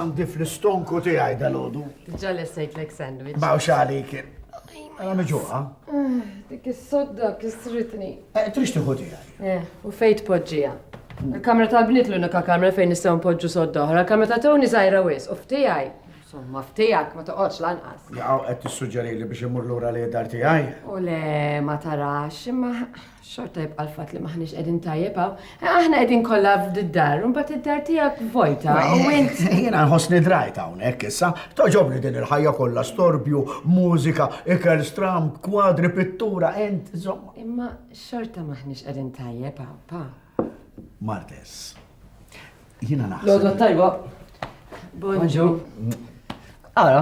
għandi fl-istonku tiegħi dal-għodu. Ġa li sejtlek sandwich. Baw xalik. Għala meġuqa. Eh, dik is-sodda kisritni. Eh, Trix tiħu tiegħi. Eh, u fejn tpoġġiha? Il-kamra tal-bniet l-unika kamra fejn nistgħu npoġġu sodda oħra, kamra ta' Tony żgħira wis, u ftijaj. Somma, ftijak ma toqgħodx lanqas. Jaqgħu qed tissuġġeri li biex imur lura li dar tiegħi. U le ma tarax, imma xorta jibqa' l-fatt li maħniex qegħdin tajjeb hawn. Aħna qegħdin kollha f'did-dar, imbagħad id-dar tiegħek vojta. U eh, int jiena nħossni drajt hawnhekk issa, toġobni din il-ħajja kollha storbju, mużika, ikel stramb, kwadri, pittura, int, żomma. Imma Xorta m'aħniex qegħdin tajjeb hawn, pa. Martes. Jiena naħseb. L-għodwa tajba. Bonġu. Ara,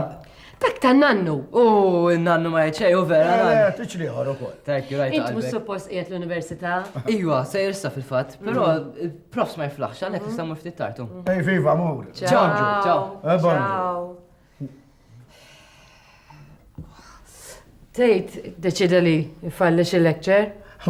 Dak ta' nannu. U nannu ma jċej u vera. Eh, eh, Tiċ liħor u kol. Thank you, rajt. Int mux suppost qiegħed l-università. Iwa, se jirsa fil-fat, pero mm. profs ma jiflaħx, għanek mm. nistamu ftit tartu. Ej, viva, mur. Ciao, ciao. Eh, Tejt, deċida li jfalli xi lecture?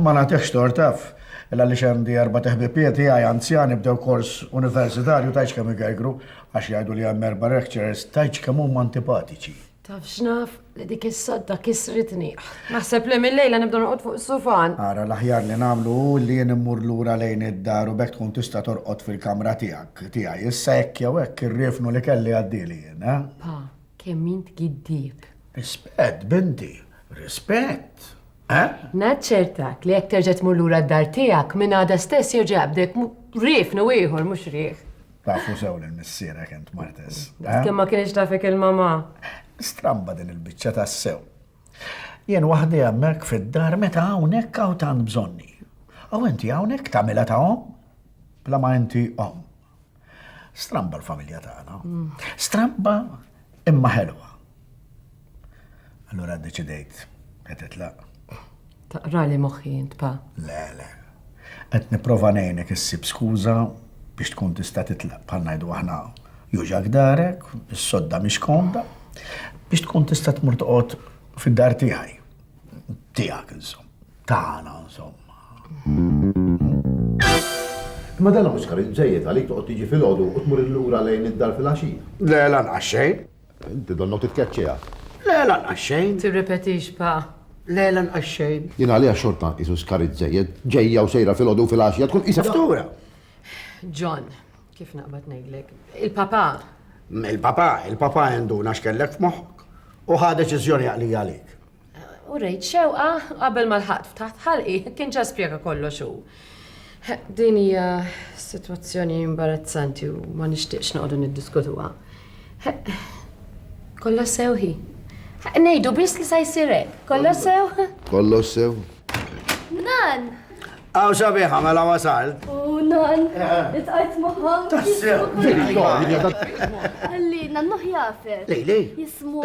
Ma nagħtihx tor taf, illa li xendi erba' teħbibiet tiegħi anzjani bdew kors universitarju tajx kemm igergru għax jgħidu li hemm erba' lecturers tajx kemm huma antipatiċi. Taf x'naf, Li dik is-sodda kisritni. Naħseb li mil-lejla nibda norqod fuq is-sufan. Ara, l-aħjar li nagħmlu hu li jien immur lura lejn id-dar u b'hekk tkun tista' torqod fil-kamra tiegħek, tiegħi. Issa hekk jew hekk ir-riefnu li kelli għaddieli jien, eh? Pa, kemm int giddieb. Rispett, binti. Rispett. Eh? Naċċertak li jekk terġa' tmur lura d-dar tiegħek, minn għada stess jerġa' jaqbdek riefnu ieħor mhux riħ. Tafu sew li missierek int martes. Eh? Kemm ma kienx tafek il-mama. Stramba din il-biċċa tas-sew. Jien waħdi hemmhekk fid-dar meta hawnhekk hawn tant bżonni. Aw inti hawnhekk tagħmilha ta' om? Bla ma inti om. Stramba l-familja tagħna. Stramba imma ħelwa. Allura ddeċidejt qed itlaq. Taqrali moħħi int pa. Le, le. Qed nipprova ngħinek issib skuża biex tkun tista' titlaq bħal ngħidu aħna juġak darek, is-sodda mhix komda, biex tkun tista' tmur toqgħod fid-dar tiegħi. Tiegħek insomma. Tagħna insomma. Ma dan Oscar iżejjed għalik toqgħod tiġi fil-għodu u tmur illura lejn id-dar fil-għaxija. Le, lanqas xejn. Inti donnha u titkeċċiha. Le, lanqas xejn. Tirrepetix, Pa. Le, lanqas xejn. Jien għaliha xorta nqisu skarit żejjed. Ġejja u sejra filgħodu u filgħaxja tkun qisha ftura. John, kif naqbad ngħidlek, il-Papa. Il-Papa, il-Papa induna x'kellek f'moħħok u ħa deċiżjoni għaqlija għalik. U rejt xewqa qabel ma lħaqt f'taħt ħalqi kien ġa spjega kollox hu. Din hija sitwazzjoni imbarazzanti u ma nixtieqx noqogħdu niddiskutuha. Kollox sew hi. Ngħidu biss li sa jsir hekk. Kollox sew? Kollox sew. Nan! Aw sabiħa mela wasalt. U nan, itqajt maħħa. Tassew, Għalli, nannuħ jafer. Lej, lej. Jismu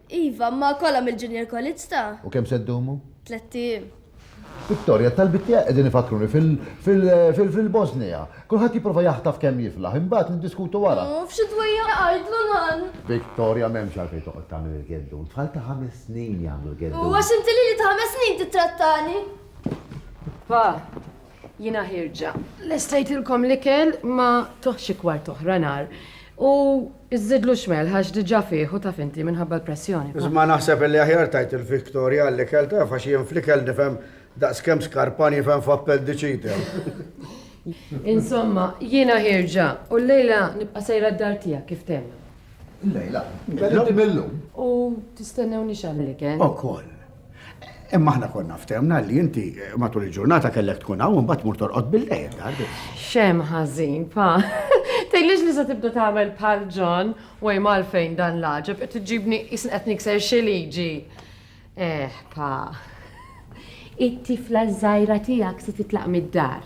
Iva, imma kollha mill-Junior College ta'. U kemm se ddumu? Tlett ijiem. Victoria, t-talbiet tiegħek qegħdin ifakruni fil-Bosnija. Kulħadd jipprova jaħtaf kemm jiflaħ, imbagħad niddiskutu wara. U f'xi dwejjaq jgħidlu nan. Victoria, m'hemmx għalfejn toqgħod tagħmel il-geddun. Tfal ta' ħames snin jagħmlu l-geddun. U għax inti lili ta' ħames snin tittrattani? Pa. Jiena ħierġa. Lestejtilkom l-ikel ma tuh xi kwart oħra nar. U żżidlu x'melħ għax diġà fih u taf inti minħabba l-pressjoni. Iżma naħseb illi aħjar tgħid il-Victoria għall-ikel taf għax jien fl-ikel nifhem daqskemm skarpan jifhem f'appendicite. Insomma, jiena ħierġa u llejla nibqa' sejra d-dar tiegħek kif temna. Llejla? Illum? U tistennewniex għall-ikel? Ukoll. Imma aħna konna ftemna li inti matul il-ġurnata kellek tkun hawn imbagħad mur torqod bil-lejl darbi. Xem ħażin, pa. Tgħidlix li se tibda tagħmel bħal John u hemm għalfejn dan l-għaġeb qed iġibni isn qed nikser xi liġi. Eh, pa. It-tifla żgħira tiegħek se titlaq mid-dar.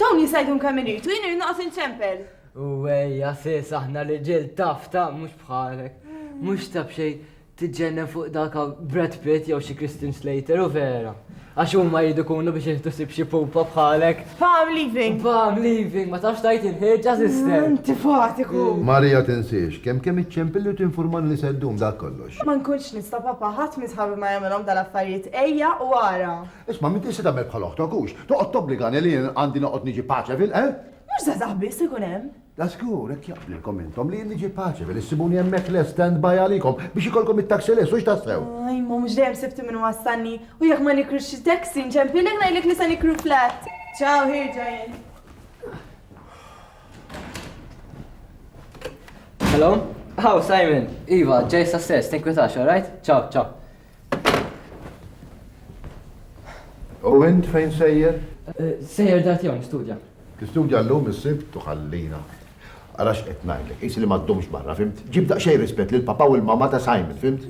Dawn jista' jgħidhom kemm irid u jien irid noqgħod inċempel. U ejja sis aħna riġiel taf ta' mhux bħalek. Mhux ta' b'xejn tiġġennen fuq dak hawn Brad Pitt jew xi Christian Slater u vera. Għax huma jridu jkunu biex jieħdu ħsieb xi pupa bħalek. Pa' I'm leaving. Pa' I'm leaving, ma tafx tgħid il-ħieġa sister. Antipatiku! Maria tinsiex, kemm kemm iċċempilli u tinfurmani li se ddum, dak kollox. Ma nkunx nista' papà, ħadd minn sħabi ma jagħmilhom dal-affarijiet, ejja u ara. Isma' m'intix se tagħmel bħal oħtok, hux? Toqgħod tobbligani li jien għandi noqgħod niġi Paċevil, eh? Mhux żgħażagħ biss ikun hemm. La żgur, hekk jaqblilkom intom li jien niġi Paċevil, issibuni hemmhekk lest stand by għalikom biex ikollkom it-taxi lest, hux tassew? Ah, imma mhux dejjem sibti min iwassalni, u jekk ma nikrux xi taxi nċempilek ngħidlek li se nikru flat. Ciao, ħirġa jien. Hello? How, Simon? Iva, ġej sa stess, tinkwitax, alright? Ciao, ciao. U int fejn sejjer? Eh, sejjer dat jom, studja. Tistudja l-lum il-sib tuħallina. Għalax qed ngħidlek, is li ma ddumx barra, fimt? Ġib daqsxejn rispett lil papa u l-mama ta' Simon, fimt?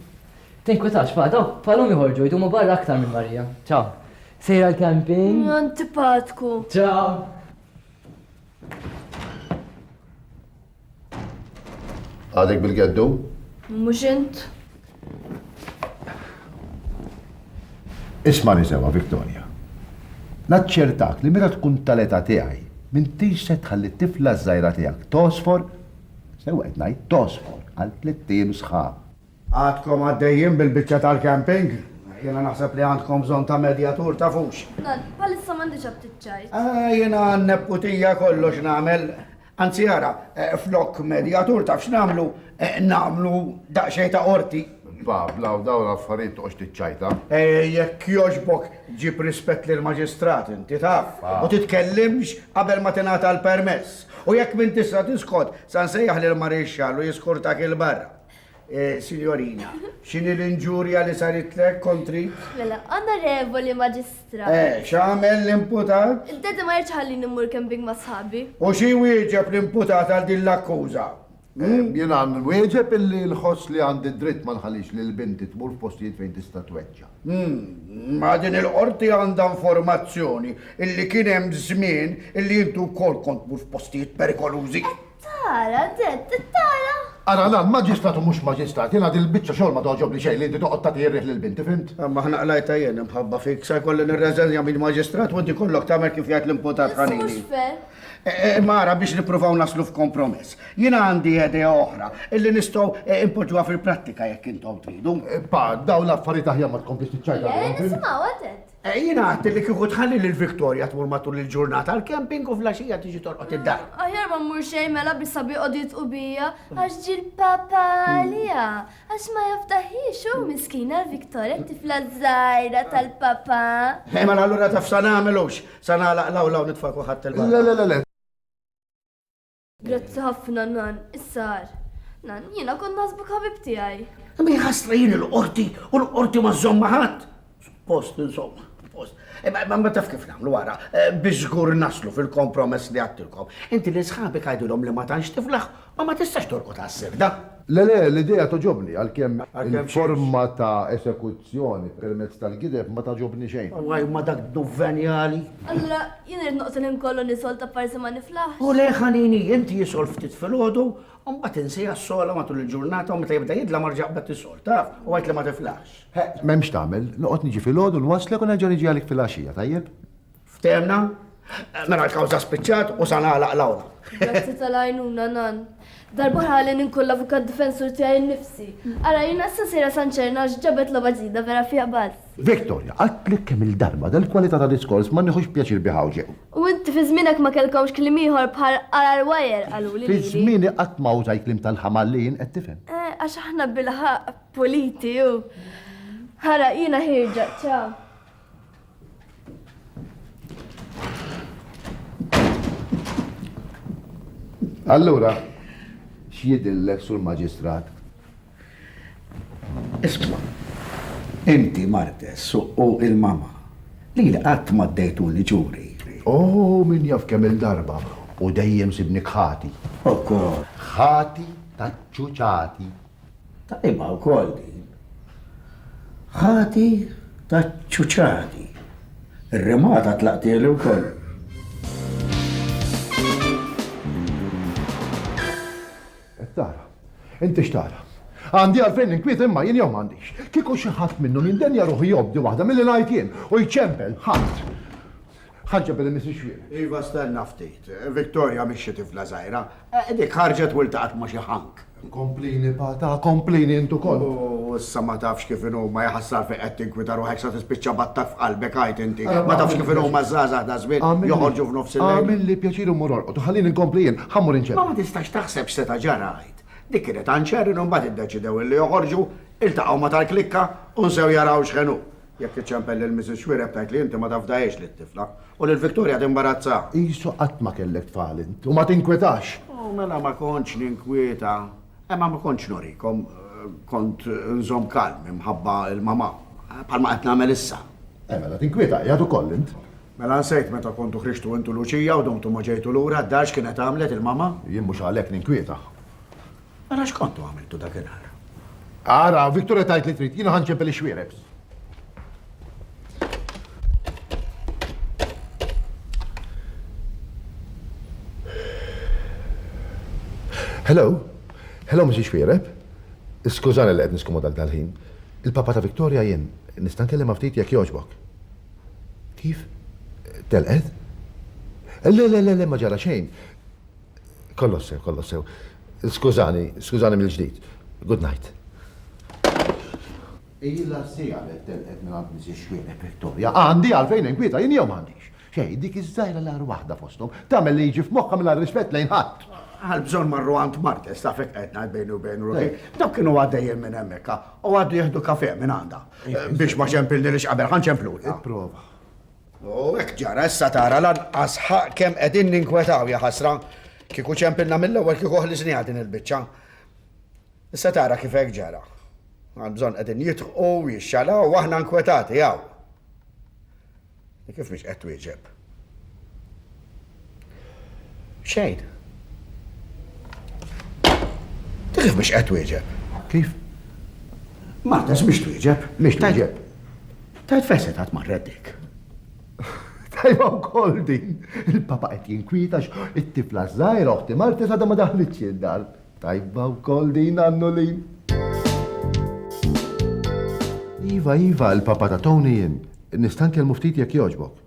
Tinkwitax pa, daw palum iħorġu jdumu barra aktar minn Marija. Ciao. Sejra l-camping. Mm, antipatku. Ciao. Għadek bil-geddu? Mhux int. Isma' sewa, Victoria. Naċċertak li meta tkun tal-età tiegħi, m'intix se tħalli t-tifla żgħira tiegħek tosfor, sewa qed ngħid tosfor għal tliet ijiem sħab. Għadkom għaddejjin bil-biċċa tal-camping? Jena naħseb li għandkom bżonn ta' medjatur ta' fux. Dan, palissa m'għandix aptit ċajt. Ah, jena għanneb putija kollox nagħmel. Anzi ara, flok medjatur taf x'nagħmlu, nagħmlu daqsxejn ta' qorti. Pavla, u dawn l-affarijiet toqgħodx tiċċajta. Jekk jogħġbok ġib rispett lill-Maġistrat inti taf, u titkellimx qabel ma tingħata l-permess. U jekk m'intix se tisqod, sa nsejjaħ lill-Marixxall u jiskurtak 'il barra. Sinjorina, x'inhi l-inġurja li saritlek kontri? Mela, onorevoli maġistrat. Eh, x'għamel l-imputat? Id-dedi ma jirċ ħalli nimmur camping ma' sħabi. U xi wieġeb l-imputat għal din l-akkuża? Hmm? Eh, Jien għan wieġeb illi l-ħoss li għandi dritt ma nħalix li l-binti tmur f'postijiet fejn tista' tweġġa. Hmm, ma din il-qorti għandha informazzjoni illi kien hemm żmien illi intu wkoll kont tmur f'postijiet perikolużi. Tara, Ted, tara! Ara lan, maġistrat u mhux maġistrat, jiena din il-biċċa xogħol ma toġobni xejn li inti toqgħod tagħti r-riħ lill-binti, fimt? Imma aħna qlajta jien imħabba fik, se jkolli nirreżenja minn maġistrat u inti kollok tagħmel kif jgħid l-imputat ħanini. E, e, mara biex nippruvaw naslu f'kompromess. Jiena għandi idea oħra illi nistgħu e, impoġġuha fil-prattika jekk intom tridu. Pa, daw l-affarijiet aħjar ma tkomplix tiċċajta. Le, nisimgħu għadet. Jien għadt li kieku tħalli lil Victoria tmur matul il-ġurnata għall-camping u fl-għaxija tiġi torqod id-dar. Aħjar ma mmur xejn mela bi sabi jqogħdu jitqu bija għax ġie l-papa għaliha għax ma jafdaħhiex hu miskina l-Victoria t-tifla żgħira tal-papa. Eh mela allura taf sa nagħmel hux? Sa nagħlaq l-awla u nitfa' kulħadd il-barra? Le le le le! Grazzi ħafna, Nan. Issa għar. Nan, jiena kont naħsbuk ħabib tiegħi. Imma jħassra jien il-qorti u l-qorti ma żomma ħadd. Post insomma, post. Imma eh, ma taf kif nagħmlu wara eh, biex żgur naslu fil-kompromess li għattilkom. Inti li sħabek għajdilhom li ma tantx tiflaħ u ma tistax torqod għas-sirda. Le le, l-idea togħġobni, għalkemm il-forma ta' esekuzzjoni permezz tal-gideb ma tagħġobni xejn. Alla imma dak dnub venjali! Allura jien irid noqgħod il-ħin kollu nisolta apparsi ma niflaħx? O le ħanini, int jisol ftit filgħodu u mbagħad insiha s-sogħla matul il-ġurnata u meta jibda jidlam erġa' qbad tisol, taf, u għid li ma tiflaħx. M'hemm x'tagħmel, noqgħod niġi filgħodu nwasslek u nerġa' niġi għalik filgħaxija, tajjeb? Ftehemna? Mela l-kawża spiċċat u sa nagħlaq l-awla. Grazzi tal-għajnuna nan. Darbohra ħalli ninkun l-avukat difensur tiegħi nnifsi. Ara jiena issa sejra San Ċerna għax ġabet logħba ġdida vera fiha bass. Victoria, għadtlek kemm il-darba dal-kwalità ta' diskors ma nieħux pjaċir bih hawnxew. U inti fi żmienek ma kellkomx kliem ieħor bħal qarar wajer qaluli lili. Fi żmieni qatt ma użajt kliem tal-ħamal li jien qed tifhem. Eh, għax aħna bil-ħaq puliti u. Ara jiena ħirġa, ċaw. Allura, x'jidillek sur maġistrat? Isma, inti martes u il-mama li l-qatt ma ddejtuni ġuri. Oh, min jaf kemm il-darba u dejjem sibni kħati. Okko. Ħati ta' ċuċati. Tajba wkoll din. Ħati taċ-ċuċati. Ir-rimata tlaqtieli wkoll. Qed tara. Inti x'tara? Għandi għalfejn ninkwiet imma jien jew m'għandix? Kieku xi ħadd minnhom jindenja ruħu jobdi waħda milli ngħid jien u jċempel, ħadd. Ħarġet billi m'hi xwieħed. Iva stenna ftit. Victoria mhix xi tifla żgħira. Dik ħarġet u iltaqgħet ma' xi ħank. Komplini Pata, komplini int ukoll. U issa ma tafx kif inhuma, jaħassar fejn qed tinkwita ruħek sa tispiċċa b'attakk f'qalbek għid inti. Ma tafx kif inhuma ż-żgħażagħ ta' żmien joħorġu f'nofs il-lejl. Agħmilli pjaċir u mur orqod u ħallini nkompli jien, ħa mmur inċerren. Ma ma tistax taħseb x'seta' ġara għid. Dik kienet għanċerren u mbagħad iddeċidew illi joħorġu, iltaqgħu ma' tal-klikka u nsew jaraw x'ħen hu. Jekk tiċċempel lil Mrs. Xuereb tgħid li inti ma tafdahiex lit-tifla. U lil Victoria timbarazzaha. Qisu qatt ma kellek tfal int u ma tinkwetax. U mela ma kontx ninkwieta. Imma ma kontx nurikom. Kont nżomm kalm imħabba l-mamà. Bħalma qed nagħmel issa. Eh mela tinkwieta qiegħed ukoll int. Mela nsejt meta kontu ħriġtu int u Luċija u domtu ma ġejtu lura d-dar x'kienet għamlet il-mamà? Jien mhux għalhekk ninkwieta. Mela x'kontu għamiltu dakinhar? Ara, Victoria tajt li trid, jiena ħanċempel ix-xwierebs. Hello? Hello, Mrs. Xwiereb? Skużani li qed niskomodal dal-ħin. Il-papa ta' Victoria jien, nista' nkellem ftit jekk jogħġbok. Kif? Telqed? Le, le, le, le, ma ġara xejn. Kollox sew, kollox sew. Skużani, skużani mill-ġdid. Good night. Ilha siegħa li telqet minn għand Mrs. Xwieneb Victoria. Għandi għalfejn inkwieta jien jew m'għandix? Xejn, dik iż-żgħira l-agħar waħda fosthom tagħmel li jiġi f'moħħha mingħajr rispett lejn ħadd. Għal bżonn marru għand Martes ta' fek qed ngħid bejni u bejn ruħi. Dawk kienu għaddejjin minn hemmhekk u għaddu jieħdu kafè minn għandha. Biex ma ċempilni li x'qabel ħa nċemplulha. Ipprova. U hekk ġara, issa tara lanqas ħaqq kemm qegħdin ninkwetaw, jaħasra! Kieku ċempilna mill-ewwel kieku ħlisniha din il-biċċa. Issa tara kif hekk ġara. Għalbżonn qegħdin jidħqu, jixxalaw u aħna nkwetati hawn. Kif mhix qed twieġeb? Xejn. Ta' kif biex qed wieġeb? Kif? Marta, x'biex twieġeb? Biex twieġeb? Tajt feset għat marret dik. Tajba wkoll din. Il-papa qed jinkwita it-tifla żgħira oħti Marta sada ma daħlitx id-dar. Tajba wkoll din għannu lin. Iva, iva, il-papa ta' Tony jien. Nista' nkellmu ftit jekk jogħġbok.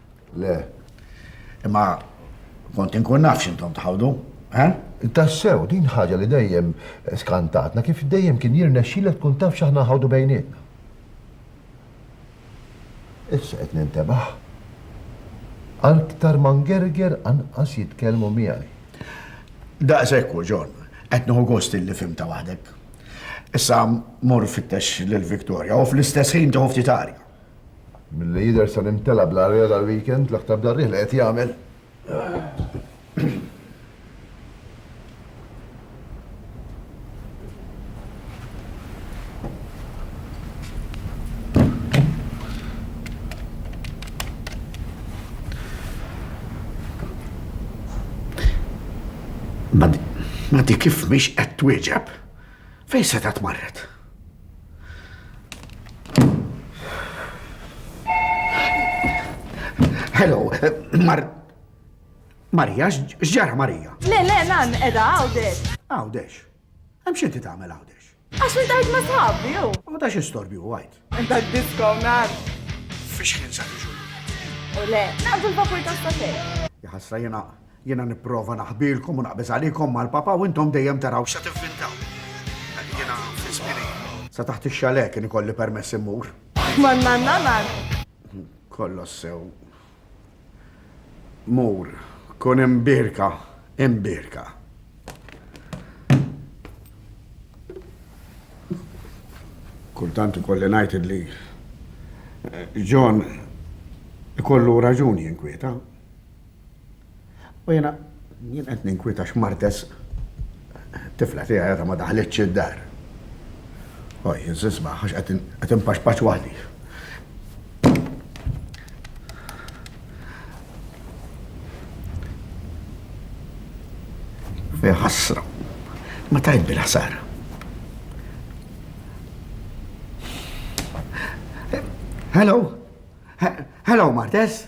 Le. Imma kont inkun naf x'intom tħawdu, eh? Tassew, din ħaġa li dejjem skantatna kif dejjem kien jirnexxilek tkun taf x'aħna nħawdu bejnietna. Issa qed nintebaħ. Aktar ma ngerger anqas jitkellmu miegħi. Daqshekk hu, John. Qed nieħu gost illi fimta waħdek. Issa mur fittex lil Victoria u fl-istess ħin tieħu ftit arja. Milli jidher sar imtela' bl-għarriela dal-weekend, l-aktar bl-għarriel li qed jagħmel. Ma di kif mhix qed twieġeb? Fejn setgħet marret? Hello, Mar. Marija, x'ġara Marija? Le, le, nan, edha, għawdex. Għawdex. Hemm xinti tagħmel għawdex. Għax intajt ma sħabbi, jew. U ta' xi storbju għajt. Dak disko man. Fiex kien sa tiġu. U le, naqdu l-vapur ta' stasej. Jħasra jena, jena niprofa naħbilkom u naqbeż għalikom mal-papa u intom dejjem taraw xa tivvintaw. Jena fispini. Sa taħt ix-xale kien ikolli permess immur. Man man man man. Kollox sew. Mur, kun imbierka, imbierka. Kultant ikolli ngħid li John ikollu raġuni jinkwieta. U jiena jien qed ninkwieta x'martes tifla tiegħi għadha ma daħlitx id-dar. O jien żisma' għax qed inpaxpax waħdi. Fej ħassra. Ma tajt bil-ħsara. Hello? Hello, Martes?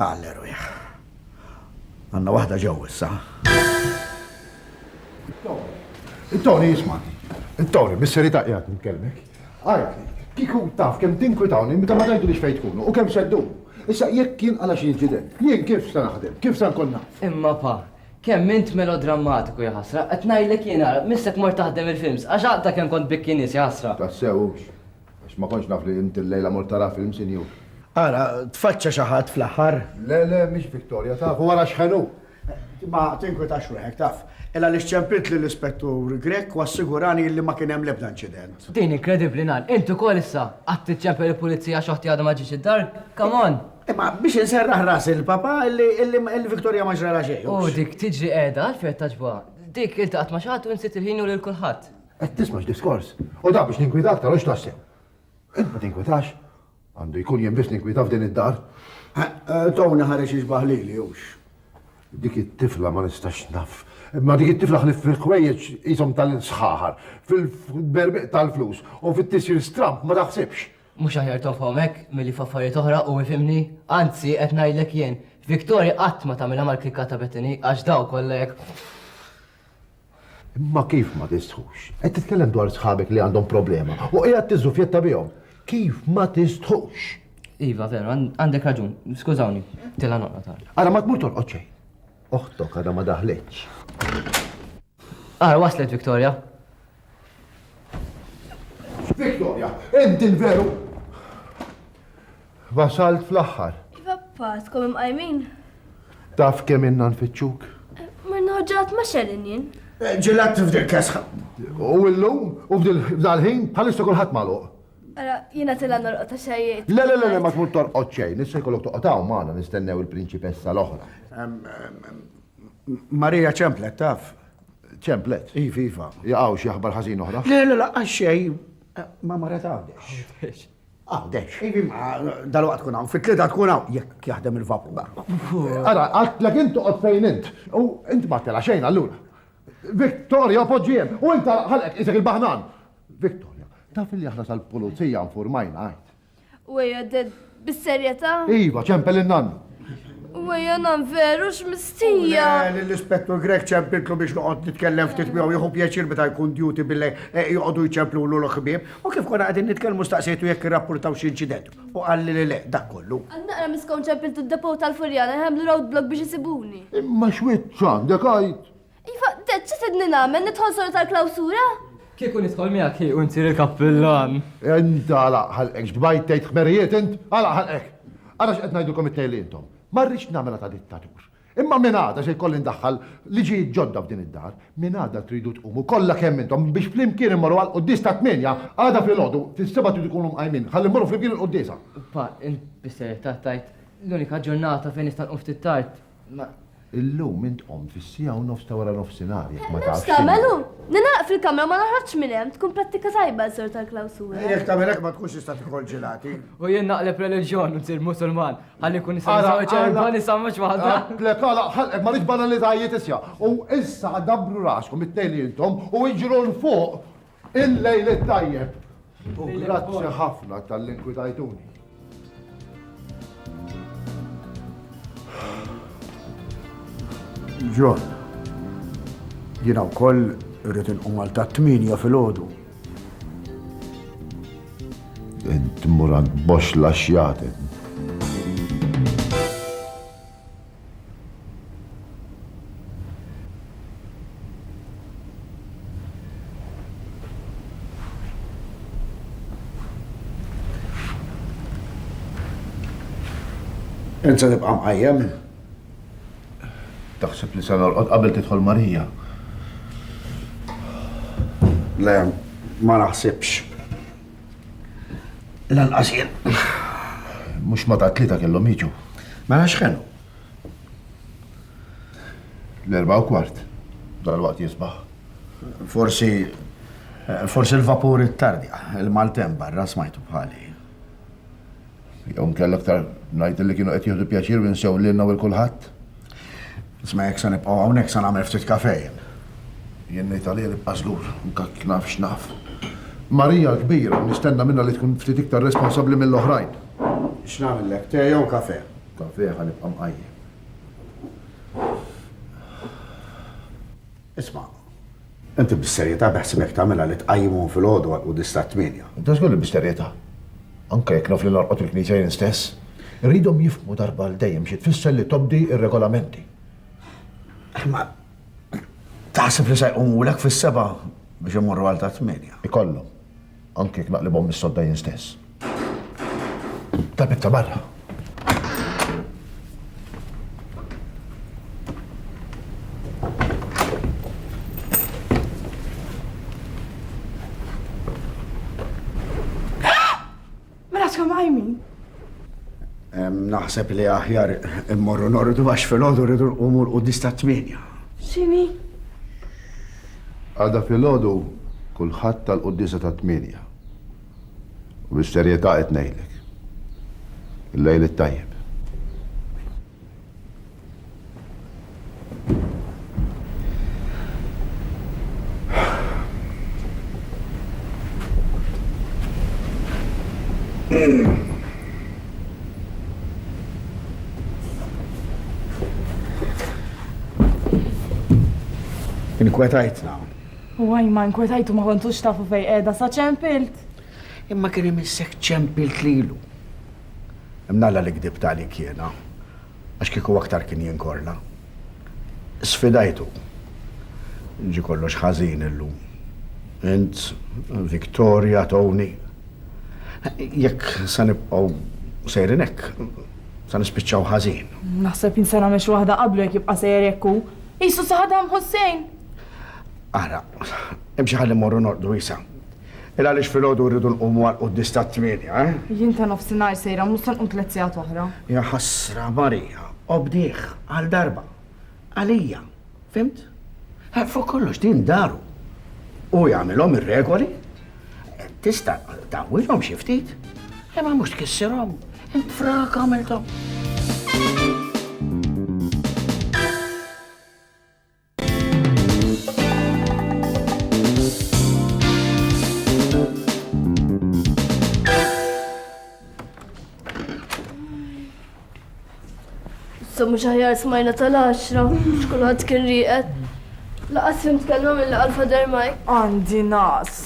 Għal erwieħ. Għanna waħda ġew issa. Tony, jisma. Tony, bis-seri ta' qiegħed nitkellmek. Għajt, kiku taf kemm tinkwitawni meta ma tajtu li xfejt tkunu u kemm seddu. Issa jekk kien għala xi inċident, jien kif se naħdem, kif se nkun naf. Imma pa, kemm int melodrammatiku ja ħasra, qed ngħidlek jien ara, missek mort taħdem il-films, għax għaqda kemm kont bikki nies ja ħasra. Tassewx. Għax ma kontx naf li int illejla mort tara films in you. Ara, tfaċċa xi ħadd fl-aħħar? Le, le, mhix Victoria, taf, u ara x'ħen hu! Ma tinkwetax ruħek, taf. Illa li xċempilt lill-Ispettur Grech u assigurani illi ma kien hemm l-ebda inċident. Din inkredibbli ngħid. Int ukoll issa qagħdt tiċċempel il-Pulizija għax oħti għadha ma ġietx id-dar? Come on! Imma biex inserraħ ras il-papà illi illi Victoria ma ġralha xejn. U dik tiġri qiegħda għalfejn qed tagħġbuha? Dik iltaqgħet ma' xi ħadd u nsiet il-ħin u lil kulħadd. Qed tisma' x'diskors. U dan biex ninkwita aktar u x'taħseb? Int ma tinkwitax? Għandu jkun jien biss ninkwita f'din id-dar. Tony ħareġ jixbah lili hux. Dik it-tifla ma nistax naf. Imma dik it-tifla ħlief fil-ħwejjeġ qishom tal-sħaħar, fil-berbiq tal-flus u fit-tisjir stramb ma taħsibx. Mhux aħjar tofhom hekk milli f'affarijiet oħra u ifhimni? Anzi, qed ngħidlek jien, Victoria qatt ma tagħmilha mal-klikka ta' Bethany għax dawn kollha jekk. Imma kif ma tistħux? Qed titkellem dwar sħabek li għandhom problema u qiegħed tiżżufjetta bihom. Kif ma tistħux? Iva, veru, għandek raġun. Skużawni, tila noqgħod għal. Ara ma tmur torqod xejn. Oħtok għadha ma daħlitx. Ara waslet Victoria. Victoria, inti l-veru Wasalt fl-aħħar. Iva paskom imqajmin. Taf kemm inna nfittxuk? Mirna ħġat ma xellin jien. Eh, ġilat f'dil kesħa. U illum, u f'dal-ħin, bħalissa kulħadd magħluq. Ara, jiena tilla norqod xejjiet. Le, le, le, ma tmur torqod xejn, issa jkollok toqgħod hawn magħna nistennew il-prinċipessa l-oħra. Marija ċemplet taf. Ċemplet? Iva, iva. Jaqgħu xi aħbar ħażin oħra. Le, le, laqgħa xejn ma mara tagħdex. Għawdex. Ivi ma dal-waqt tkun hawn, fit-tlieta tkun hawn, jekk jaħdem il-vapur. Ara, għatlek int toqgħod fejn int. U int ma tela' xejn allura. Victoria poġġi hemm, u int ara ħalqek qisek il-baħnan. Victoria, taf li aħna tal-pulizija nfurmajna għid. U ejja, Dad, bis-serjetà? Iva, ċempel in-nannu. U għajja nam veru x'mistija. L-ispettur Grek ċempiltlu biex noqgħod nitkellem ftit miegħu jieħu pjaċir meta jkun duty billi eh, joqogħdu jċemplu l ħbieb u kif konna qegħdin nitkellmu staqsejtu jekk irrapportaw xi inċident u qalli li le dak kollu. Naqra miskon ċempiltu d-depow tal-Furjana jħamlu road block biex isibuni. Imma xwiet ċandek għajt? Iva, Dad, xi tridni nagħmel? Nidħol solo tal-klawsura? Kieku nidħol miegħek hi u nsir il-kappillan. Int għalaq ħalqek x'bdajt tgħid ħmerijiet int? Għalaq ħalqek! Ara x'qed ngħidulkom it-tnejn li intom. Ma rridx nagħmilha ta' dittatur. Imma minn għada se jkolli ndaħħal liġijiet ġodda f'din id-dar. Minn għada tridu tqumu kollha kemm intom biex flimkien immorru għall-quddies tat-tmienja. Għada filgħodu, fis-sebgħa tridu tkunu mqajmin ħalli mmorru flimkien il-quddiesa. Pa, int bis-serjetà tgħid l-unika ġurnata fejn nista' nqum ftit tard Illum int qomt fis-siegħa u nofs ta' waranofsinhar, jekk ma tafx. Nofs ta' melu? Ningħaqad fil-kamra u ma noħroġx minn hemm, tkun prattika tajba għal sort tal-klawsura. Jekk tagħmel hekk ma tkunx tista' tikol ġilati. U jien naqleb reliġjon u nsir Musulman, ħalli nkun nista' nżewweġ erbgħa nisa mhux waħda. Le tagħlaq ħalqek ma rridx banalitajiet isja'. U issa dabbru raskom it-tnejn intom u iġru 'l fuq Il-lejl it-tajjeb u grazzi ħafna talli nkwidajtuni. John, jiena wkoll irrid inqum għal ta' tminja fil-ħodu. Int murant box laxjatet. Enza nibqa' mqajjem. Taħseb li se norqod qabel tidħol Marija. Le, ma naħsibx. Lanqas jien. Mhux ma ta' tlieta kellhom jiġu. Mela x'kenu? L-erba' u kwart. Dal-waqt jisbaħ. Forsi forsi l-vapur it-tardi, il-maltemp barra smajtu bħali. Jew nkella aktar ngħid li kienu qed jieħdu pjaċir u jinsew lilna u lil kulħadd. Isma' jekk se nibqgħu hawnhekk se nagħmel ftit kafè jien. Jien ngħid għalija nibqa' żgur, anke jekk naf x'naf. Marija l-kbira, nistenna minnha li tkun ftit iktar responsabbli mill-oħrajn. X'nagħmillek, te jew kafè? Kafè ħa nibqa' mqajjem. Isma', inti bis-serjetà beħsibek tagħmilha li tqajjimhom filgħodu għal quddies tat-tmienja? Inti żgur li bis-serjetà? Anke jekk naf li norqod il-knisja jien stess, irridhom jifhmu darba għal dejjem xi tfisser li tobdi r-regolamenti. Imma taħseb li se jqumulek fis-sebgħa biex immorru għal tat-tmienja? Ikollhom. Anki jekk naqlibhom mis-sodda jien stess. Tabitta barra. Mela tkun qajmin? Naħseb li aħjar immorru nordu għax fil-ħodu rridu nqumu l-qudis ta' tmienja. Xini? Għada fil-ħodu kulħadd tal-quddisa ta' tmienja. U bis-serjetà qed ngħidlek. Il-lejl it-tajjeb. Inkwetajtna. U għaj ma inkwetajtu ma kontux tafu fej edha sa ċempilt. Imma kien imissek ċempilt lilu. Imnalla li kdibt għalik jiena, għax kieku aktar kien jinkorla. Sfidajtu. Ġie kollox ħażin illum. Int, Victoria, Tony. Jekk se nibqgħu sejrin hekk, se nispiċċaw ħażin. Naħseb jien se nagħmel xi waħda qablu jekk jibqa' sejjer hekk hu. Qisu saħadam Ħussejn! Ara, imxi ħalli mmorru norqdu Isa. Il għaliex filgħodu rridu nqumu għal quddies tat-tmienja, eh? Jien ta' nofsinhar sejra mhux se nqum tliet sigħat oħra. Ja ħasra, Marija, obdih għal darba. Għalija. Fhimt? Fuq kollox din daru. Hu jagħmilhom ir-regoli. Tista' tawwilhom xi ftit. Imma mhux tkissirhom. Int frak għamilthom. Sa mhux aħjar smajna tal-għaxra, xkulħadd kien rieqed. Laqas fim tkellmu mill għalfa dermaj. Għandi nas.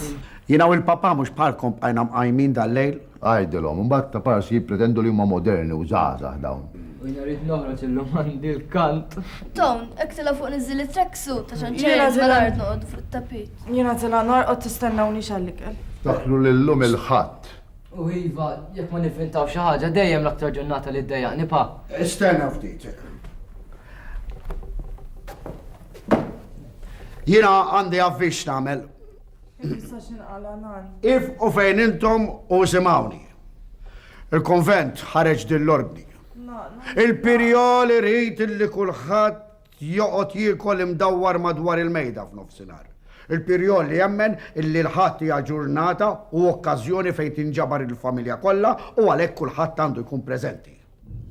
Jina u l-papa mhux bħalkom bqajna mqajmin dal-lejl. Għidilhom, imbagħad ta' parsi jippretendu li huma moderni u żgħażagħ dawn. U jiena rrid noħroġ illum għandi l-kant. Dawn, hekk tilgħa fuq niżżil it-track suit għax għan ċajr Jiena tilgħa- mal-art noqgħodu fuq it-tapit. Jiena tilgħa norqod tistennawniex għall-ikel. Ftakru li llum il-Ħadd. U iva, jekk ma nivvintaw xi ħaġa, dejjem l-aktar ġurnata li ddejjaqni, pa. Stenna ftit. Jiena għandi avviż x'nagħmel. Issa xinqala nan. Ifqu fejn intom u isimgħuni. Il-konvent ħareġ din l-ordni. Il-pirjol irid li kulħadd joqgħod jiekol imdawwar madwar il-mejda f'nofsinhar. Il-pirjol li jemmen illi l-ħadd hija ġurnata u okkażjoni fejn tinġabar il-familja kollha u għalhekk kulħadd għandu jkun preżenti.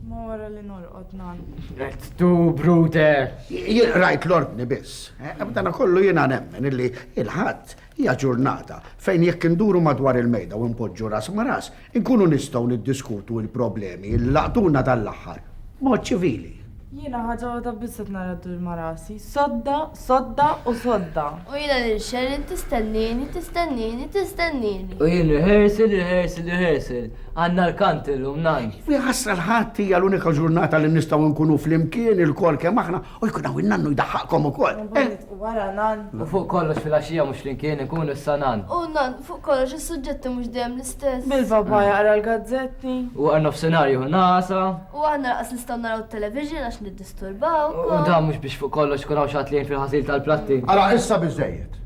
Ma wara li norqod nan. Qed tu brute. Jien rajt l-ordni biss. Eh, B'dana kollu jiena nemmen illi il-ħadd hija ġurnata fejn jekk induru madwar il-mejda u npoġġu ras ma' ras, inkunu nistgħu niddiskutu l-problemi li laqtuna dan l-aħħar. Mod ċivili. Jiena ħaġa waħda biss qed nara ddur ma' rasi, sodda, sodda u sodda! U jiena lil Sheryl tistennieni, tistennieni, tistennieni! U jien rehearsal, rehearsal, rehearsal! Għandna l-kant illum, nan! U jaħasra l-Ħadd hija l-unika ġurnata li nistgħu nkunu flimkien ilkoll kemm aħna u jkun hawn in-nannu jdaħħaqkom ukoll! U mbagħad nitqu wara, nan! U fuq kollox filgħaxija mhux flimkien inkunu issa, nan! U, nan, fuq kollox is-suġġetti mhux dejjem l-istess! Bil-papà jaqra l-gazzetti! U wara nofsinhar jieħu nagħasa! U aħna lanqas nistgħu naraw it-television għax niddisturbawkom. U dan mhux biex fuq kollox ikun hawn xi ħadd li jgħin fil-ħasil tal-platti. Ara, issa biżżejjed!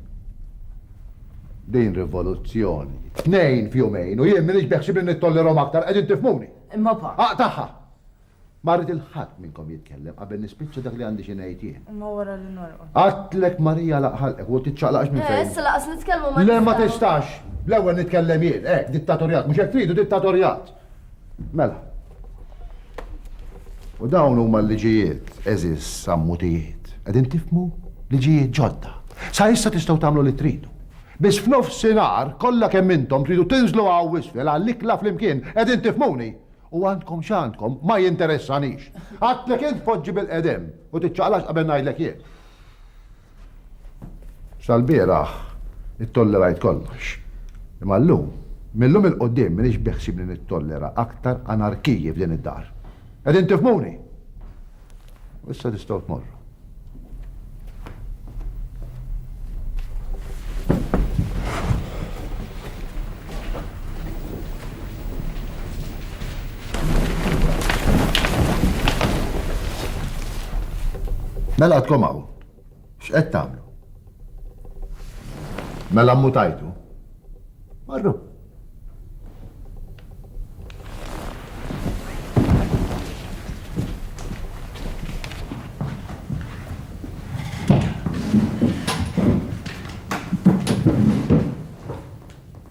Din rivoluzzjoni. Tnejn f'jumejn u jien m'iniex beħsieb li nittollerahom aktar, qegħdin tifhmuni? Imma pa. Aqtagħha! Ma rrid lil ħadd minnkom jitkellem qabel nispiċċa dak li għandi xi ngħid jien. Imma wara li norqod. Għedtlek Marija alaq ħalqek u tiċċaqlaqx minn fejn. Eh, issa lanqas nitkellmu ma nistgħux. Le ma tistax! L-ewwel nitkellem jien, hekk, dittatorjat, mhux hekk tridu, dittatorjat! Mela. U dawn huma l-liġijiet, eżis ammutijiet. Qegħdin tifmu? Liġijiet ġodda. Sa issa tistgħu tagħmlu li tridu. Biss f'nofsinhar kollha kemm intom tridu tinżlu hawn isfel għall-ikla flimkien, qegħdin tifhmuni? U għandkom x'għandkom, ma jinteressanix. Għadtlek int tpoġġi bil-qedem u tiċċaqlax qabel ngħidlek jien. Sal-bieraħ ittollerajt kollox. Imma llum, mil-lum 'il quddiem m'iniex beħsiebni nittollera aktar anarkiji f'din id-dar. Qegħdin tifhmuni? U issa tistgħu tmorru. Mela għadkom hawn. X'qed tagħmlu? Mela mmutajtu? Marru.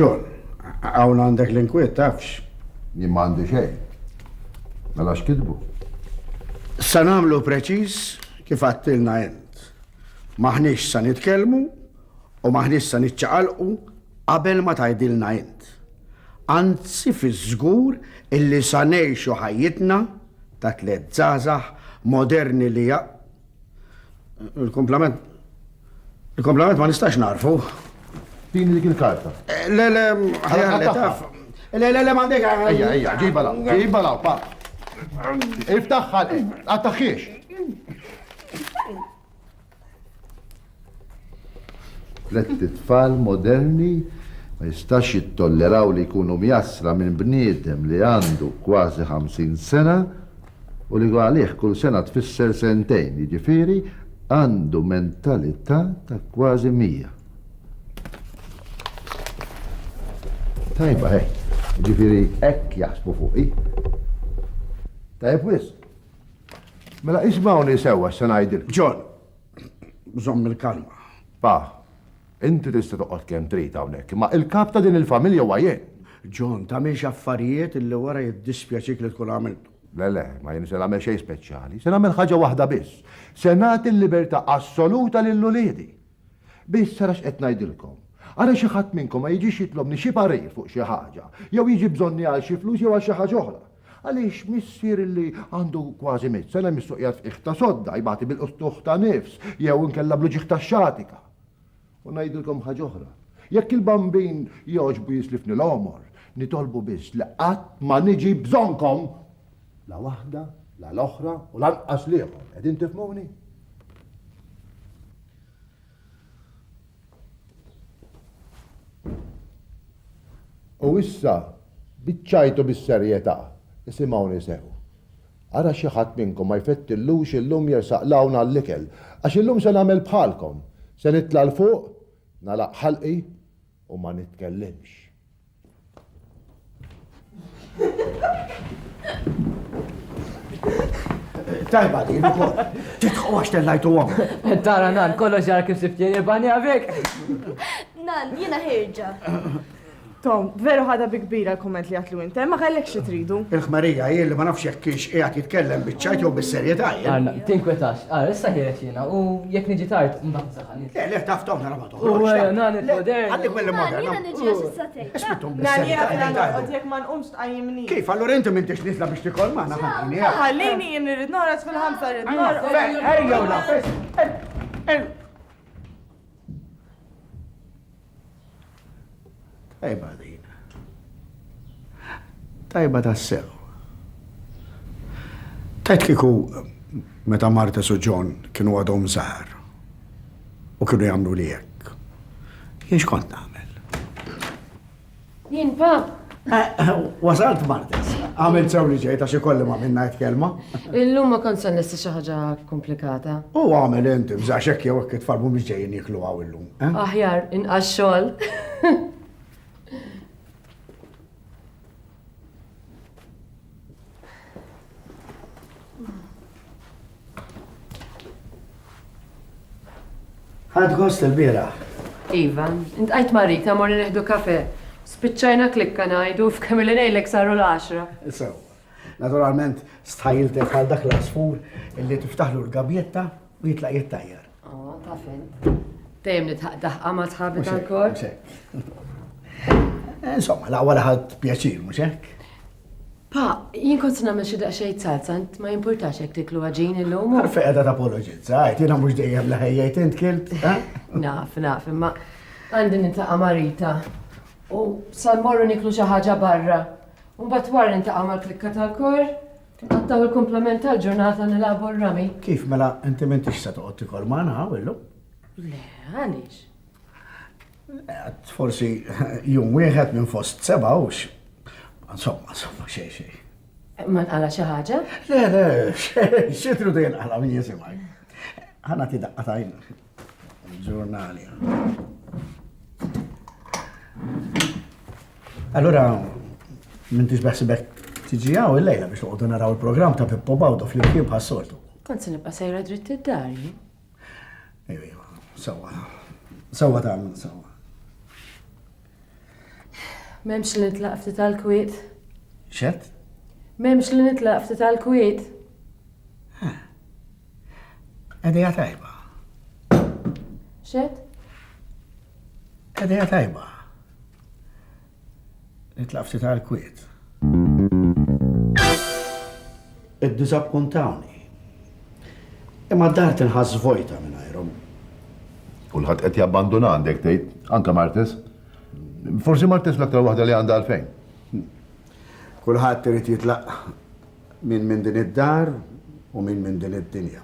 John, għawn għandek l-inkwiet, tafx? Jien ma għandi xejn. Mela x'kitbu? Sa nagħmlu preċiż kif għattilna int. Maħniex sa nitkellmu U m'aħniex se niċċaqalqu qabel ma tgħidilna int. Anzi fiż-żgur illi sa ngħixu ħajjitna ta' tliet żgħażagħ moderni li ja Il-kumplament. Il-kumplament ma nistax narfu. Tini dik il-karta. Eh, le, le, ħajja taf. Le, le, le, ma dik. Ejja, ejja, ġiba law, ġiba law, pa. Iftaħħal, għattaħħiex. Tlet tfal moderni ma jistax jittolleraw li jkunu mjassra minn bniedem li għandu kważi 50 sena u li għalih kull sena tfisser sentejn, jiġifieri għandu mentalità ta' kważi mija. Tajba hekk, jiġifieri hekk jaħsbu fuqi. Tajjeb wisq. Mela ismawni sewwa se ngħidilkom. John, żomm il-kalma. Pa, inti tista' toqgħod kemm trid hawnhekk, imma il-kap ta' din il-familja huwa jien. John, tagħmilx affarijiet li wara jiddispjaċik li tkun għamilthom. Le, le, ma jien se nagħmel xejn speċjali. Se nagħmel ħaġa waħda biss. Se nagħti l-libertà assoluta lil uliedi. Biss ara x'qed ngħidilkom. Ara xi ħadd minnkom ma jiġix jitlobni xi parir fuq xi ħaġa, jew jiġi bżonni għal xi flus jew għal xi ħaġa oħra. Għaliex missier illi għandu kważi mitt sena jmissu qiegħed f'qiegħ ta' sodda, jbati bil-qstuħ ta' nifs, jew inkella bl-uġigħ tax-xatika. U ngħidilkom ħaġa oħra, jekk il-bambin jogħġbu jislifni l-għomor, nitolbu biss li qatt ma niġi bżonnkom! La waħda, la l-oħra u lanqas l-ieħor. Qegħdin tifhmuni? U issa, biċċajtu bis-serjetà, isimgħuni sew. Ara xi ħadd minnkom ma jfettillux illum jersaq 'l hawn għall-ikel, għax illum se nagħmel bħalkom, se nitla' 'l fuq, nagħlaq ħalqi u ma nitkellimx. Tajba din ukoll. Titħu għax tellajtu għom. Tara nan, kollox ġara kif siftjeni bani għavik. Nan, jina ħirġa. Tom, veru ħada bi kbira l-komment li għatlu inti, ma kellek xi tridu. Il-ħmarija hi li ma nafx jekk kienx qiegħed jitkellem biċ-ċajt jew bis-serjetà. Għanna, tinkwetax. Għal, issa ħiret jiena u jekk niġi tard mbagħad saħan. Le, le, taf Tom nara ma Kif, allora inti minn tix nitla biex tikol maħna ħanni. Ħallini jien irrid noħroġ fil-ħamsa rrid noħroġ. Ejja u nafes. Tajba din. Tajba tassew. Tajt kieku meta Martes u John kienu għadhom żgħar u kienu jagħmlu li hekk. Jien x'kont nagħmel? Jien pa. Wasalt Martes, għamil sew li ġejt għax ikolli ma minna qed kelma. Illum ma kont se nesti xi ħaġa komplikata. U għamel inti bżax hekk jew hekk itfalmu biex ġejjin jiklu għaw illum. Eh? Aħjar inqas xogħol. Għad gost il-biraħ. Iva, intqajt ma' Rita morri neħdu kafe. Spiċċajna klikka ngħidu f'kemm li ngħidlek saru l-10. Sew. Naturalment, stħajiltek għal dak l-asfur illi tiftaħlu l-gabjetta u jitlaq jittajjar. Oh, taf int. Dejjem nitħaq daħqa ma tħabi tal-kor. Eh, insomma, la wara ħadd pjaċir, mhux hekk? Pa, jien kont nagħmel xi daqsxejn salza, int ma jimpurtax jekk tiklu għaġin illum. Għarfi qiegħda tapoloġizza, għajt jiena mhux dejjem li ħejjejt int kilt. Eh? Naf, naf, imma għandi nitlaqa' marita. U sal-morru niklu xi ħaġa barra. U mbagħad wara nitlaqa' mal-klikka tal-kor. Inqattgħu l-kumplament tal-ġurnata nilagħbu r-rami. Kif mela inti m'intix se toqgħod tikol magħna hawn illum? Le, għaliex? Għad forsi jum wieħed minn fost seba' hux. Insomma, insomma, xejn xejn. Ma nqala xi ħaġa? Le, le, xejn, xi tridu jinqala min jisimgħi. Ħana ti daqqa tajn Il-ġurnali. Allora, minn tix beħsibek tiġi għaw il-lejla biex uqdu naraw il-program ta' Pippo Bawdo fl-imkien bħas-soltu. Kont se nibqa' sejra dritt id-dar. Ejwa, ejwa, sawa. Sawa ta' għamil, sawa. Memx li nitlaq ftit tal-kwiet. Xed? Memx li nitlaq ftit tal-kwiet. Edeja tajba. Xed? Edeja tajba. Nitlaq ftit għal kwiet. Id-disappuntawni. Imma d-dar tinħass vojta minn għajrom. Kulħadd qed jabbanduna għandek tgħid, anke Martes. Forsi Martes l-aktar waħda li għandha għalfejn. Kulħadd irid jitlaq Min minn din id-dar u min minn din id-dinja.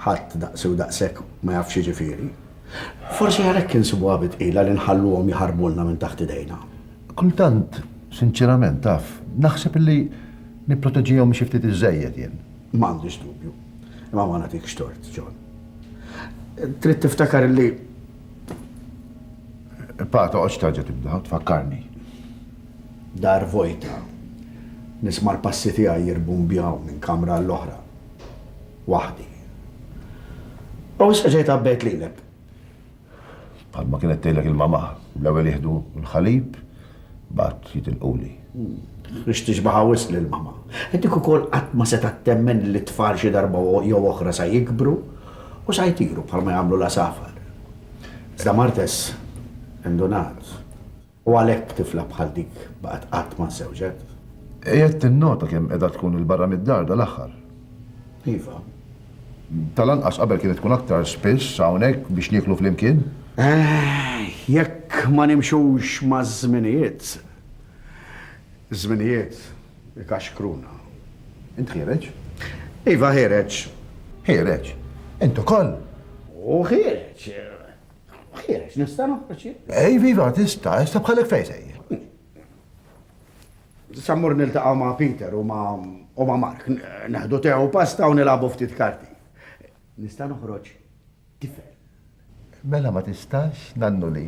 Ħadd daqsi u daqshekk ma jaf x'jiġifieri. Forsi għalhekk insibuha bi tqila li nħalluhom jaħarbulna minn taħt idejna. Kultant, sinċerament, taf, naħseb illi nipproteġihom xi ftit iżżejjed jien. M'għandix dubju. Imma ma nagħtikx tort, John. Trid tiftakar illi. Pa, toqgħodx terġa' tibda u tfakkarni. Dar vojta. Nisma' l-passi tiegħi jirbumbjaw minn kamra għall-oħra. Waħdi. U issa ġejt għabbejt lilek. Bħalma kienet tgħidlek il-mamaħ, l-ewwel jieħdu l-ħalib, mbagħad jitilquli. Rix tixbaħha wisq lil mama. Dik ukoll qatt ma setgħet temmen li t-tfal xi darba jew oħra sa jikbru u sa jtiru bħalma jagħmlu l-għasafar. Iżda Martes indunat. U għalhekk tifla bħal dik baqgħet qatt ma żżewġet. Qiegħed tinnota kemm qiegħda tkun 'il barra mid-dar dal-aħħar? Iva. Tal-anqas qabel kienet tkun aktar spiss hawnhekk biex nieklu flimkien? Jekk ma nimxux maż-żminijiet, iż-żminijiet ikaxkruna. Int ħiereġ? Iva ħiereġ. Ħiereġ? Int ukoll? U ħiereġ. Ħiex, nista' noħroġ jien? Ej, viva, tista', issa bħalek fejn sejjer. Sammur niltaqgħu ma' Peter u ma' u ma' Mark, neħdu tew pasta u nilagħbu ftit karti. Nista' noħroġ tifel. Mela ma tistax nannu li.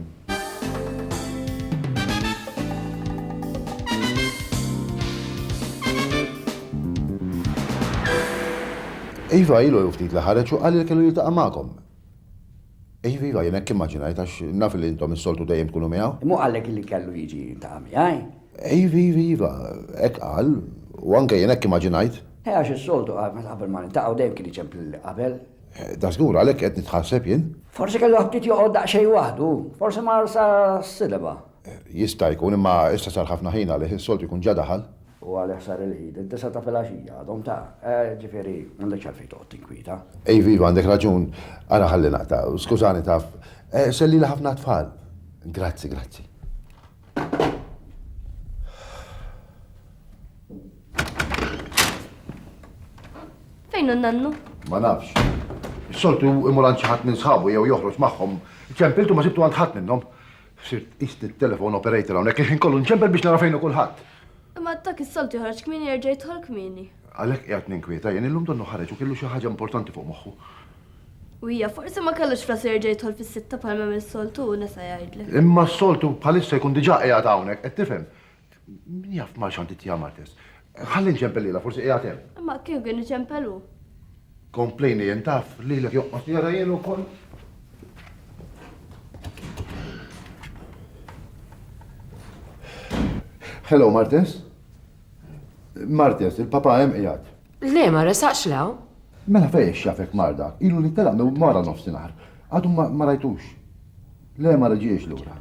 Iva ilu ftit li ħareġ u qal li kellu jiltaqa' magħkom. Iva, iva, jien hekk immaġinajt għax naf li intom is-soltu dejjem tkunu miegħu. Mhu qallek li kellu jiġi jiltaqa' miegħi? Iva, iva, iva, hekk qal, u anke jien hekk immaġinajt. Eh, għax is-soltu qabel ma niltaqgħu dejjem kien iċemp lili qabel. Dażgur għalhekk qed nitħasseb jien. Forsi kellu aptit joqgħod daqsxejn waħdu, forsi mar sas-sideba. Jista' jkun, imma issa sar ħafna ħin għalih, is-soltu jkun ġa daħal. U għalih sar il-Għid id-disgħa ta' filgħaxija, għadhom ta'. Ġifieri, m'għandekx għalfejn toqgħod tinkwieta. Iva, iva, għandek raġun. Ara ħalli naqta'. Skużani, taf. Sellili ħafna għat-tfal. Grazzi, grazzi. Fejn hu n-nannu? Ma nafx. Is-soltu imur għand xi ħadd minn sħabu jew joħroġ magħhom. Ċempiltu ma sibtu għand ħadd minnhom. Sirt qist it-telephone operator hawnhekk għax inkollu nċempel biex nara fejn hu kulħadd. Imma dak is-soltu joħroġ kmieni jerġa' jidħol kmieni. Għalhekk qiegħed ninkwieta jien, illum donnu ħareġ u kellu xi ħaġa importanti fuq moħħu. U hija forsi ma kellux f'rasu jerġa' jidħol fis-sitta bħalma jagħmel soltu, nesa' jgħidlek. Imma s-soltu bħalissa jkun diġà qiegħed hawnhekk, qed tifhem? Min jaf ma xanti tjama tess. Ħalli nċempellila, forsi qiegħed hemm. Imma kif kien iċempelu? Komplejni jien taf li l joqqos jara jien ukoll. Hello, Martes? Martes, il-papa hemm qiegħed. Le, ma resaqx law. Mela fejn xafek marda, ilu li telaq minn mara nofsinhar. Għadu ma rajtux. Le ma reġiex lura.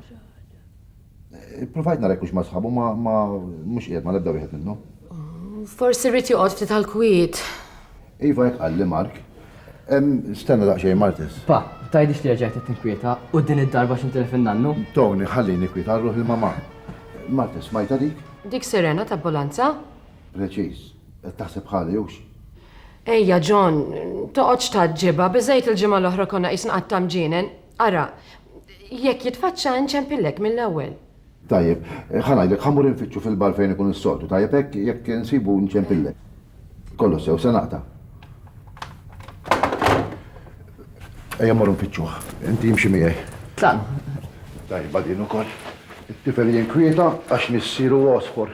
Ippruvajt nara jekk hux ma' sħabu ma mhux qiegħed ma' l-ebda wieħed minnhom. Forsi rrid joqgħod ftit għall-kwiet. Iva hekk qalli Mark. Stenna daqsxejn Martes. Pa, tgħidlix li reġgħet qed tinkwieta u din id-darba x'inti li fin-nannu? Tony, ħallini kwiet għal ruħi l-mamà. Martes, smajtha dik? Dik sirena t'abbulanza? Preċiż. Qed taħseb bħali hux? Ejja John, toqgħodx tgħaġġibha, biżejt il-ġimgħa l-oħra konna qisna qatt ta' mġienen. Ara, jekk jitfaċċa inċempillek mill-ewwel. Tajjeb, ħa ngħidlek, ħa mmur infittxu fil-bar fejn ikun is-soltu, tajjeb hekk? Jekk insibu nċempillek. Kollox sew, se naqta'. Ejja mmorru nfittxuh, inti imxi miegħi. Tajjeb, din ukoll. It-tifel jinkwieta għax missieru għosfor.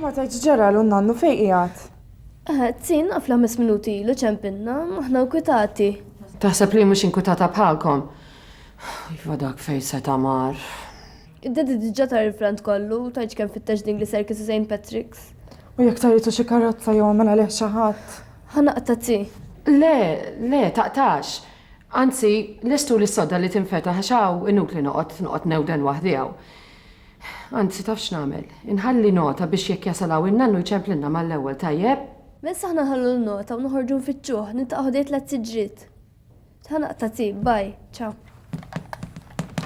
Ma tgħidx ġara l nannu fejn qiegħed? Tin għafla mis minuti ilu ċempinna, maħna nkwitati. Taħseb li mhux inkwitata bħalkom? Iva dak fejn se tamar. Id-dedi diġà tar il-frant kollu, tajġ kemm fittex din li serki St. Patrick's. U jekk taritu xi karozza jew għamel għalih xi ħadd. Ħanaqta ti. Le, le, taqtax. Anzi, lestuli s-sodda li tinfetaħ għax hawn inutli noqgħod noqgħod newden waħdi hawn. Anzi, taf x'nagħmel? Inħalli nota biex jekk jasal hawn in-nannu jċemplilna mal-ewwel, tajjeb? Mess aħna nħallu l-nota u noħorġu nfittxuh, niltaqgħu ħdejn tliet siġriet. Ħa naqta' tip, bye, ciao.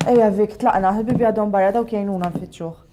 Ejja Vic, tlaqna, ħbibi għadhom barra dawk jgħinuna nfittxuh.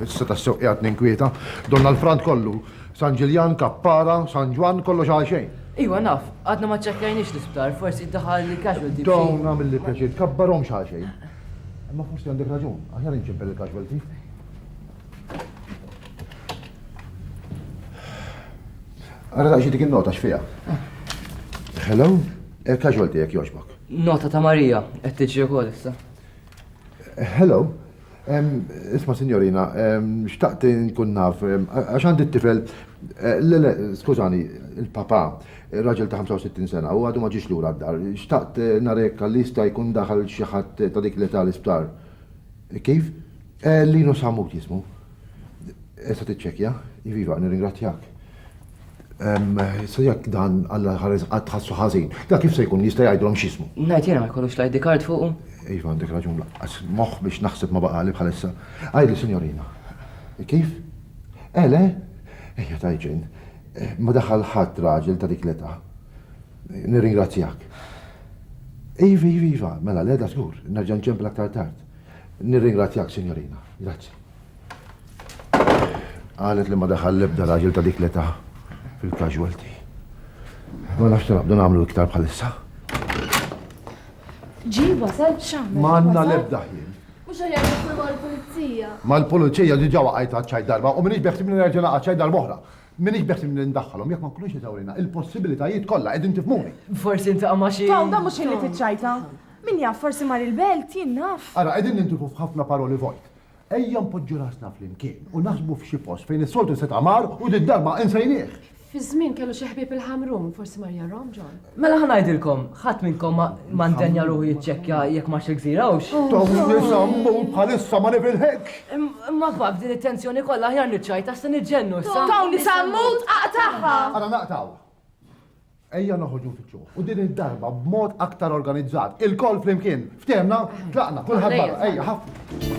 Issa ta' sew qiegħed ninkwieta, donna l-frant kollu, San Ġiljan, Kappara, San Ġwan, kollox għal xejn. Iwa naf, għadna ma ċċekkjajniex l-isptar, forsi daħal li casualty. Dawn għamil li pjaċir tkabbarhom xi xejn. Imma forsi għandek raġun, aħjar inċempel il-casualty. Għara daqxie dik il-nota x'fija. Hello? Erka' xolti jekk jogħġbok. Nota ta' Maria qed tiġri wkoll issa. Hello. Isma' sinjorina, xtaqt inkun naf, għax għandi t-tifel, le le, skużani, il-papà, raġel ta' 65 sena u għadu ma ġiex lura d-dar, xtaqt nara jekk għalli jista' jkun daħal xi ħadd ta' dik l-età l-isptar. Kif? Linus Hammut jismu. Issa tiċċekkja. Iva, iva, nirringrazzjak. Issa jekk dan Alla ħares qatt ħassu ħażin, da kif se jkun jista' jgħidilhom x'jismu? Ngħid jiena ma jkollux l-ID card fuqu? Iva għandek raġun laqqas moħħ biex naħseb ma baqali bħalissa. Għidli sinjorina. Kif? Eh le? Ejja ta' iġen. Ma daħal ħadd raġel ta' dik l-età. Nirringrazzjak. Iva, iva, iva, mela le da żgur, nerġa' nċempel aktar tard. Nirringrazzjak sinjorina. Grazzi. Qalet li ma daħal l-ebda raġel ta' dik l-età fil-casualty. Ma nafx naqdu nagħmlu iktar bħalissa. Ġi wasal x'għamel. Ma għandna l-ebda ħin. Mhux aħjar nidħlu mal-pulizija. Mal-pulizija diġà waqajt għaċċaj darba u minix beħsib li nerġa' naqa' ċaj darba oħra. Minix beħsib li ndaħħalhom jekk ma nkunux eżawrina il-possibilitajiet kollha qegħdin tifmuni. Forsi intaqa' ma' xi. Taw da mhux ħin li tiċċajta. Min jaf forsi mar il-belt jien naf. Ara qegħdin nintifu f'ħafna paroli vojt. Ejja npoġġu rasna flimkien u naħsbu f'xi post fejn is-soltu setgħa mar u din darba insejnieh. Fi żmien kellu xi ħbieb il-Ħamrun, forsi mar jarhom John. Mela ħa ngħidilkom, ħadd minnkom ma ndenja ruħu jiċċekkja jekk marx il-gżira hux. Tom nisammu bħalissa ma nifilħekx. Imma fak din it-tensjoni kollha aħjar niċċajt għax se niġġennu issa. Tom nisammu tqaqtagħha. Ara naqtgħu. Ejja noħoġu fitxu. U din id-darba b'mod aktar organizzat. Il-koll flimkien. Ftemna, tlaqna, kulħadd barra. Ejja, ħafna.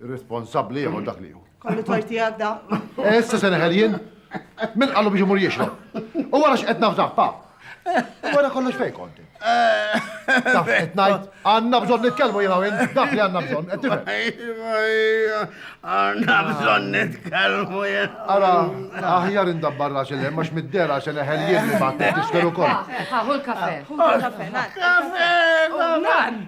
Irresponsabbli jieħu dak li hu. Kollu torti għadda. Eh, issa se neħel jien. Min qallu biex imur jixrob. U wara x'qed nafdaħ pa. Wara kollox fejn konti. Taf qed ngħid, għandna bżonn nitkellmu jiena win, dak li għandna bżonn, qed tifhem. Għandna bżonn nitkellmu jien. Ara, aħjar indabbar rax il għax mid-dera se neħel jien li ma tiskeru kol. Ħaħu l-kafe. Kafe, kafe.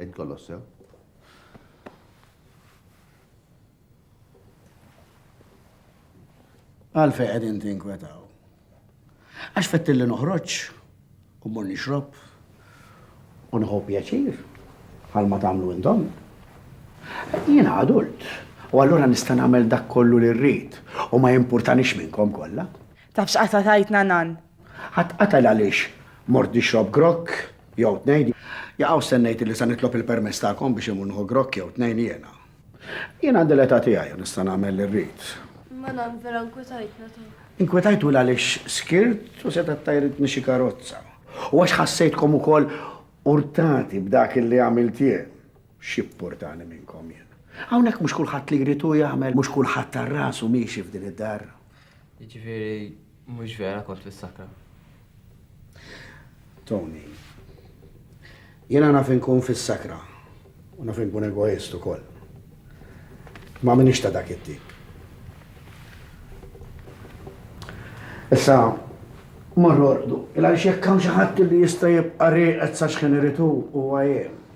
Għid kollox sew. Għalfej qegħdin tinkwetaw. Għax fettilli noħroġ u mur nixrob u nħu pjaċir bħal ma tagħmlu intom. Jiena adult u allura nista' nagħmel dak kollu li rrid u ma jimpurtanix minnkom kollha. Taf x'qatagħtna Nan? Ħadd qatgħel għaliex mort nixrob grokk jew tnejn. Jaqaw hawn stennejt illi sa nitlob il-permess tagħkom biex immur nieħu grokk jew tnejn jiena. Jien għandi l-età tiegħi u nista' nagħmel li rrid. Imma Nan, vera nkwetajtna ta'. Inkwetajtu 'l għaliex skirt u setgħet tgħajritni xi karozza. U għax ħassejtkom ukoll urtati b'dak illi għamilt jien. X'jippurtani minnkom jien? Hawnhekk mhux kulħadd li jrid hu jagħmel, mhux kulħadd għal rasu miexi f'din id-dar. Jiġifieri mhux vera kont fis-sakra. Tony, Jiena naf inkun fis-sakra u naf inkun egoist ukoll. Ma minix ta' dak it-tip. Issa, morru orqdu, il-għaliex jekk hawn xi ħadd li jista' jibqa' rieqed sa xħin irid hu, huwa jien.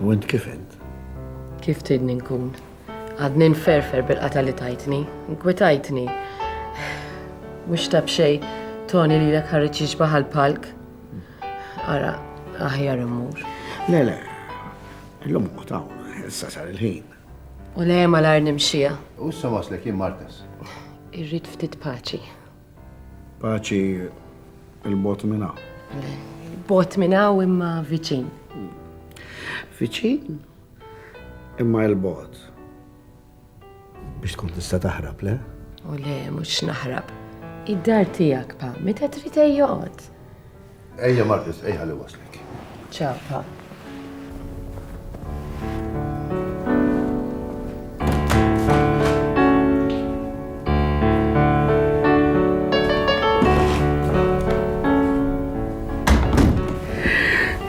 U int kif int? Kif tridni nkun? Għadni nferfer bil-qata li tajtni, nkwitajtni. Mhux tab xej, Tony li l-ek ħarriċ jiġbaħ palk Ara, aħjar immur. Le, le, l-lum kutaw, issa sar il-ħin. U le ma l-ar nimxija. U issa waslek jien martes. Irrid ftit paċi. Paċi il-bot minna. Bot minna u imma viċin. Viċin? Imma il-bot. Biex tkun tista taħrab, le? U le, mux naħrab. Id-dar tijak, pa, meta trid joqgħod. Ejja Margaret, ejja ħalli waslek. Ciao, pa.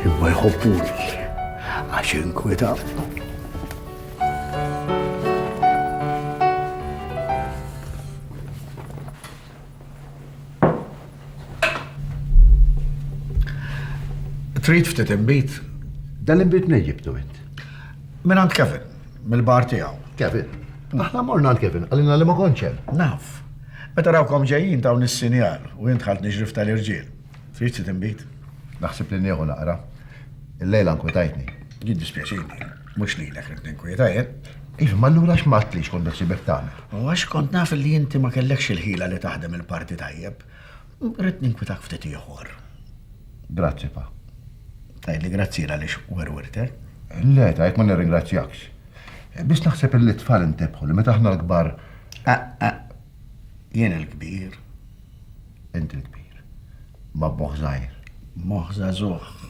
Imma jħobbuni għax inkweta. Trid ftit imbit? Dan l-imbit minn ġibtu int? Minn għand Kevin, mill-bar tiegħu. Kevin? Aħna morna għand Kevin, għalina li ma konċem. Naf. Meta rawkom ġejjin dawn is-sinjal u jint ħalt niġrif tal-irġiel. Trid ftit imbit? Naħseb li nieħu naqra. Il-lejla nkwetajtni. Jiddispjaċini. Mhux lilek ridt ninkwieta jien. Iva, ma allura għax ma għedtlix kont insibek tagħmel? U għax kont naf li inti ma kellekx il-ħila li taħdem il-parti tajjeb, ridt ninkwitak ftit ieħor. Grazzi, Pa. Tgħidli grazzi għaliex werwirtek? Le, ta' jekk ma nirringrazzjakx. Biss naħseb li t-tfal intebħu li meta aħna l-kbar. Jien il-kbir. Int il-kbir. Ma b'moħħ żgħir. B'moħħ żagħżugħ.